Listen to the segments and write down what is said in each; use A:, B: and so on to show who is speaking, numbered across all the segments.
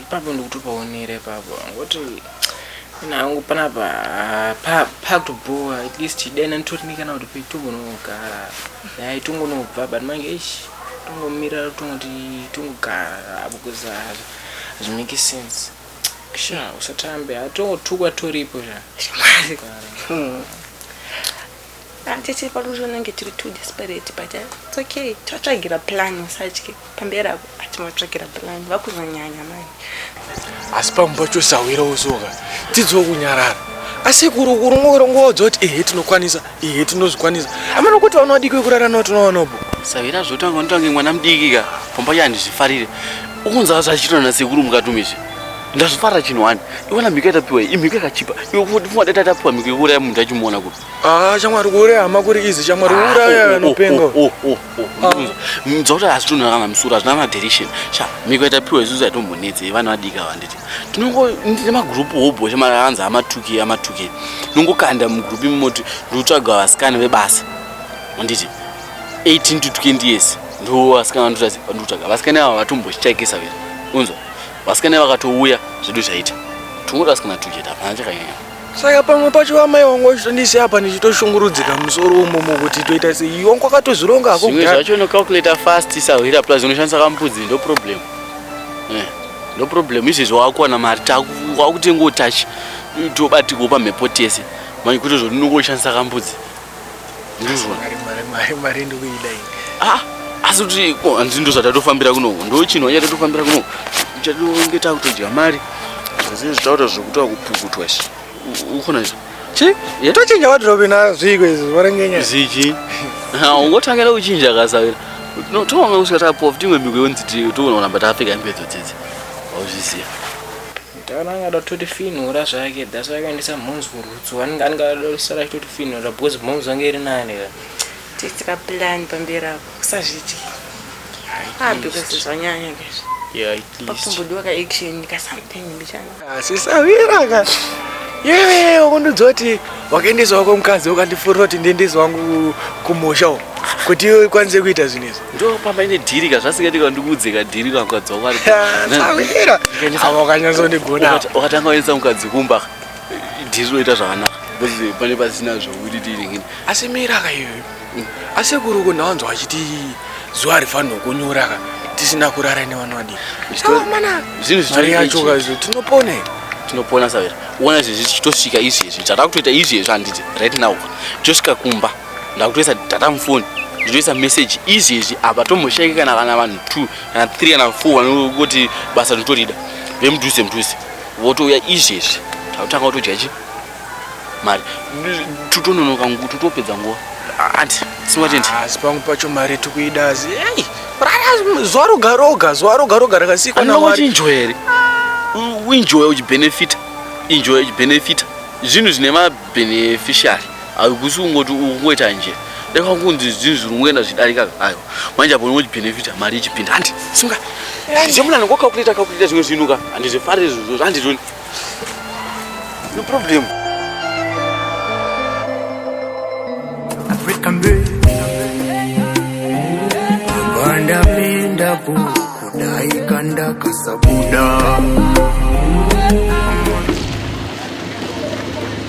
A: papo ndikutopaonere papo ngoti nangu panapa pakutobhowa at least dai nanditorine kana kuti petongonogara dai tongonobva but manje ish tongomirira tongoti tongogara apo kuzaza Hazvimake sense. Sha usatambe atotukwa toripo sha. Mwari.
B: Atete pano zvinenge tiri too desperate but eh, it's okay. Tatsvagira plan usatye. Pamberi apo atinotsvagira plan vakuzonyanya manje. asi
C: pamwe pacho sahwira usoka dzidzo kunyarara asekuru kurongorongoodzo kuti ehe tinokwanisa Iye tinozvikwanisa. Amana kuti vana vadiki vekurara navo tinovaonapo. Savira zvotanga
D: unotange mwana mudiki ka pamba ya handizvifarire. Ukunzava zvachitwa nasekuru mukatumi izvi. Ndazvifarira chinhu wani. Iwana mhiko yatapiwa iyi imhiko yakachipa. Iwe kuti pfungwa dai tatapiwa mhiko yekuuraya munhu tachimuona kupi. Ah, shamwari kuuraya
C: hama kuri izi shamwari kuuraya anopenga. Oh, oh, oh.
D: mudza kuti hazitonhora kana musoro hazvina kana direction sha miko yatapiwa isusu yatombonetse ivana vadika vanditi tinongondine magroup hobhosha maanzi amatuke amatuke nongokanda mugroup imomoti ndotsvaga vasikana vebasa anditi 18 to 20 years ndo vasikana vandotazi vandotsvaga vasikana ava vatombochichaikisa vira unzwa vasikana vakatouya zvedu zvaita tongoda vasikana tuke tapana chakanyanya saka pamwe pacho
C: vamai wangu vachitondisi apa ndichitoshungurudzika musoro umomo kuti toita sei wangu akatozvironga hako zvimwe zvacho unocalculator
D: fast sahwira plus unoshandisa kambudzi ndo problem eh, ndo problem izvezvo wakuwana mari wakutenga utachi tobatikawo pamhepo tese manje kutozoti unongoshandisa kambudzi ndinozwa mari mari mari mari
C: ndikuida ini ah asi
D: kuti ko hanzi ndo zvatatofambira kunoku ndo chinhu wanya tatofambira kunoku chatinge takutodya mari zazii zvitaura zvekutaura kupukutwa izvi ukona izvi chi yatochinja
C: wadrobe na zviko izvi varengenya zichi
D: ungotangira kuchinja kasavira no tonga kusvika tapof timwe miko yonzi toona kuramba tafika imbedzo dzidzi wauzviziva Taona
A: anga ada kutotifinhura zvake that's why akaendesa momz kurutsu anenge anenge ada kusara achitotifinhura because momz ange iri nani ka tiitira
B: plan pamberi apo kusazvitya ah because zvanyanya guys yeah at least
A: pakumbodiwa ka action
B: ka something mbichana asisawira ka
C: yewe wakundidzoti wakaendesa wako mukadzi ukandifurira kuti ndiendese wangu kumusha uko kuti iwe ikwanise kuita zvinhu izvi ndo pamba ine dhiri
D: ka zvasingaiti ka ndikuudze ka dhiri ka mukadzi wako ariaira
C: ava wakanyatsondigona wakatanga waendesa mukadzi
D: kumba ka dhiri roita zvakanaka pane pasina zvokuti tiiringini asi mira ka
C: iyoyo Asekuru uko ndawanzwa achiti zuva harifanirwe kunyura ka tisina kurara nevana vadii. Zvinhu
D: zvitari yacho ka
C: izvo tinopona here? Tinopona
D: savera. Uona izvi zvichitosvika izvi izvi. Tata kutoita izvi izvi handiti right now. Tosvika kumba. Ndakutoisa tata mufoni. Ndinoisa message izvi izvi apa tomboshayika kana kana vanhu 2 kana 3 kana 4 vanoti basa rinotorida. Vemudhuze mudhuze. Votouya izvi izvi. Takutanga kutodya chi? mari tutononoka nguva tutopedza nguva anti singatendi asi pamwe pacho
C: mari tikuida asi ei zuva roga roga zuva roga roga rakasikwa nawari injoy here
D: uinjoya uchibenefita injoya uchibenefita zvinhu zvine mabeneficiary hakusi kungoti ukungoita nje deka kunzi zvinhu zviri kungoenda zvidarika ayo manje apo unoti benefita mari ichipinda handi sunga ndichemuna ndingokakulita kakulita zvimwe zvinhu ka handizvifarire zvozvo handitoni No problem.
E: African day. Banda pinda po kudai kanda kasabuda.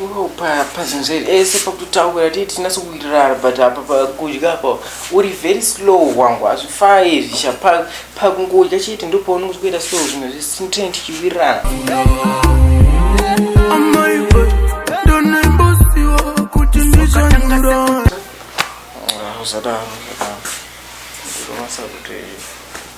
A: Iwewo pa pazvinhu zvedu ese pakutotaura tee tinase kuwirirana but apa pakudya apa uri very slow wangu hazvifai zvisha pa pakungodya chete ndopaunenge uchikuita slow zvinhu zvese tinotene tichiwirirana
E: Amai we, ndonoimbosiwa kuti ndichanyura.
A: Ah, usadaro usadaro ndinomasa kuti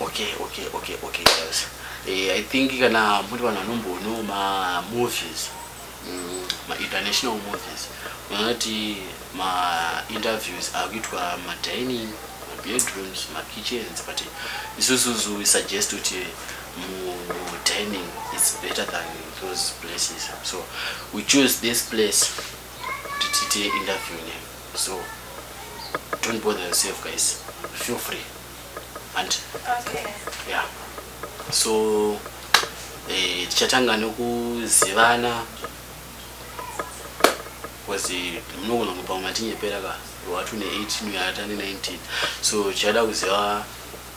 D: okay okay okay okay yes eh, i think kana muri vanhu vanombono mamovies mm, mainternational movies unoti mainterviews akuitwa madining mabedrooms makitchens but isusuzu suggest kuti mudining is better than those places so we choose this place kuti tiite interview ne so don't bother yourself guys feel free and okay.
B: yeah
D: so eh, tichatanga eh, nekuzivana because munogona kupa matinyepera ka watune 18 uyatane 19 so tichada kuziva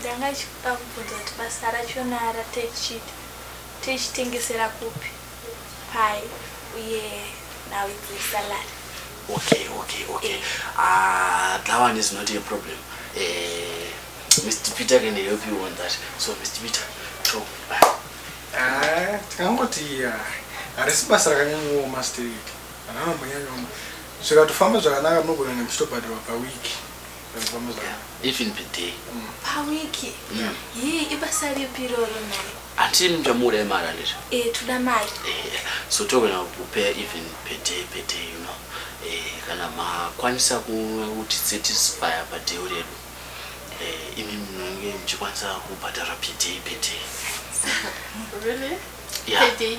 F: Ndanga ndichikuda kubvunza kuti basa racho nara techit techitengesera kupi pai uye now it's a salary. Okay okay
D: okay ah that one is not a problem eh Mr Peter can help you on that so Mr Peter talk back. Ah
G: tikangoti ah harisi basa rakanyanyooma straight hana manyanyoma zvikatofamba zvakanaka munogona nekuchitobhadharwa paweek.
D: even per day mm. pawiki mm.
F: yii ibasa ripi iroro mari hanti muchamuda
D: imari andizvo eh, toda mari eh,
F: so togona
D: kupea even per day per day you know eh, kana makwanisa kuti satisfy padheu redu imi munenge muchikwanisa kubhadhara per day per day really?
B: yeah. per
D: day.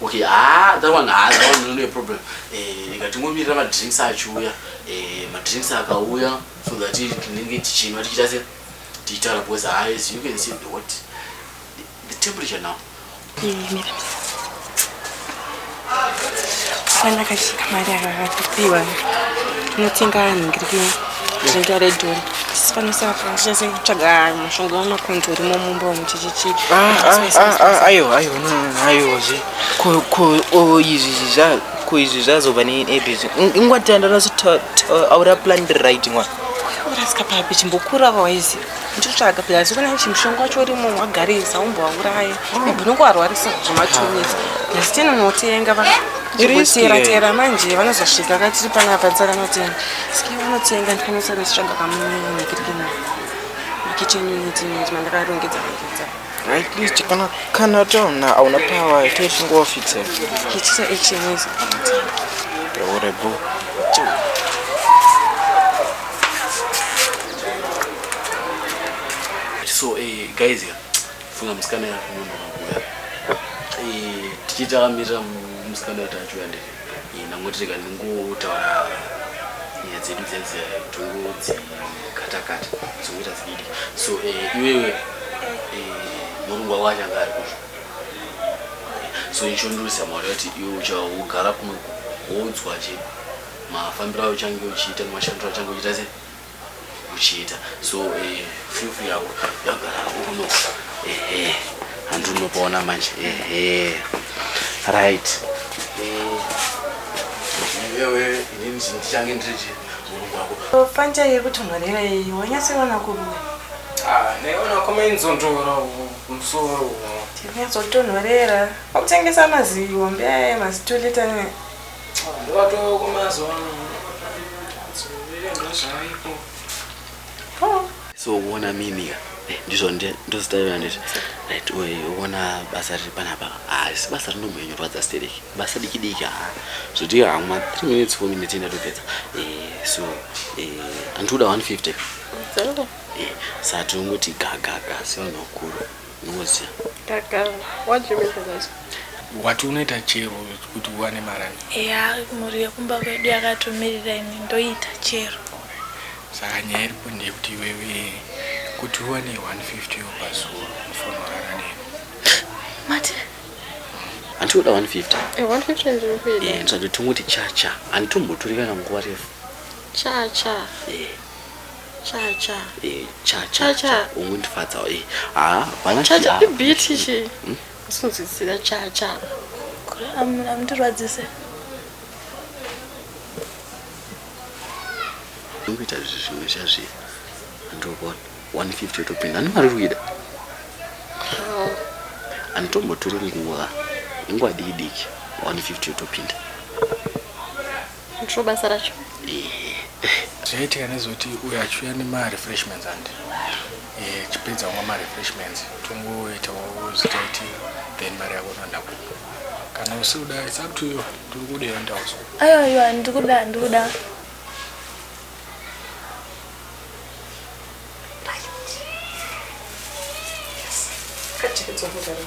F: okay ah
D: that one ah that one no problem eh rega tingomirira ma drinks achiuya eh ma drinks akauya so that tinenge tichinwa tichita se tichitaura because ah as you can see the what the, the temperature now eh mira
B: fana kashika mari akatopiwa tinotenga anhu ngiri Dzinza redhori sipanisa apa ndichase kutsvaga mushonga wemakonzo urimo mumba umu chichichi aiwa aiwa aiwa
A: zve ko ko izvi zva ko izvi zvazova neebhizi ingwati andanaso aura plan right mwana urasika papi
B: chimbokura vawaiziva ndichitsvaga pia zvikona kuti mushonga wacho urimo wagarisa umbovauraya ibhinongo varwarisa zvematumisa asi tinonotenga va Iri tera tera manje vanozosvika katiri panapa tsaka notenga. Ski vanotenga ndikanosa nesitsvaga kamunhu nekirikina. Kitchen unit unit mandakarongedza rongedza. Right,
A: please chikana kana tona auna power ito chingo fitse. Kitchen
B: action is.
A: Ore bu. So eh guys here.
D: funga musikana yako nyumba makuya eh, tichiti akamirira musikana kuti achiuya ndiri eh, ndangoti rega ndingotaura nyaya dzedu dzedze tungu dzikatakata dzokuita dzididi so eh, iwewe murungwa wacho anga ari kuzvo so ichondirusa mari yati iwe uchagara kuno woudzwa che mafambiro ayo uchange uchiita nemashandiro achange uchiita sei uchiita so eh, fufu yako yagara uno ehe handi unopaona manje ehe right eh, iwewe inini ndichange ndiri chii mulungu wako Fanta yekuti mwarira
B: iyi wanyatsoiona kurume. Ah, naiona
A: koma inzondora musoro uno. Tinyazotonhorera.
B: Wakutengesa maziwa mbeya mazitulita ne
A: Ndovatoo kumazuva ano ndozvaipo
D: so uona mimi ka eh, ndizvo ndozitaira nditi right uona basa riri panapa haasi basa rinomhonyorwadza stereki basa diki diki haa zvoti hamwa three minutes four minutes indatopedza eh, so eh, andikuda one fifty sati ungoti gagaga sevanhu vakuru Ngozi. Ndagara.
B: What do you mean by that? Wati unoita
G: chero kuti uwane marani? Eya, mhuri yekumba
F: kwedu yakatomirira ini ndoita chero. Saka
G: nyaya iripo ndeyekuti iwewe kuti uwane 150 yo pazuva unofana kurara neni. Mati?
D: Hanti unoda 150? Eh, 150 ndiri
B: kuida. Eh, ndisati tingoti chacha.
D: Handitombotori kana nguva refu. Chacha.
B: Eh. Chacha.
D: Eh, cha cha Cha, cha. cha. Ungondifadza eh. Ah, vana Chacha ibiti
B: chi. Usinzwisisa chacha. Kure am- amundirwadzise.
D: Ungoita zvi- zvimwe zvazvi. Ndokona 150 yotopinda. Ani mari ruida. Oh, Anditombotori nguva. Nguva diki diki. 150 yotopinda. ndiro
B: basa racho
G: zvaitika nezoti uyo achiuya nemarefreshments and eh, chipedza umwe marefreshments tongoitawo zitaiti then mari yako unoenda kupo kana usikuda its up to you ndiri kuda yoenda uso ayo ayo ndiri kuda ndiri kuda
F: Yes. Cut it, it's over, darling.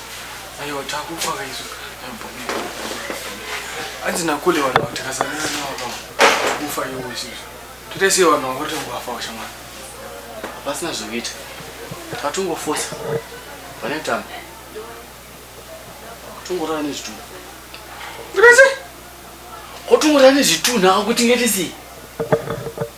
G: Ayo takufa kaizo. Anzi nakule vanhu vatakasana navo vakafa. Kufa iwo izvo. Toita sei vanhu vangoti vafa washamwana. Pasina
D: zvekuita. Tatungofosa. Pane mtambo. Tungorara nezvitunha. Ndinese. Kotungorara nezvitunha akuti ngetisi.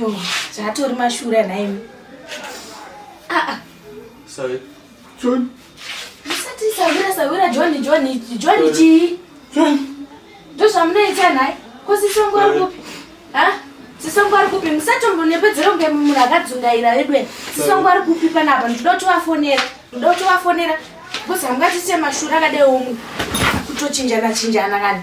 F: Yo, zvatori mashura nhaimi. Ah ah.
D: Sorry.
G: John. Musati
F: sawira sawira John John John chii? John. Ndozvamunoita nhai? Ko sisongo ari kupi? Ha? Sisongo ari kupi? Musatombonepedzera kunge munhu akadzungaira vedwe. Sisongo ari kupi panapa? Ndinoda kuti vafonera. Ndinoda kuti vafonera. Because hamungatiite mashura akadai omwe. Kutochinjana chinjana kana.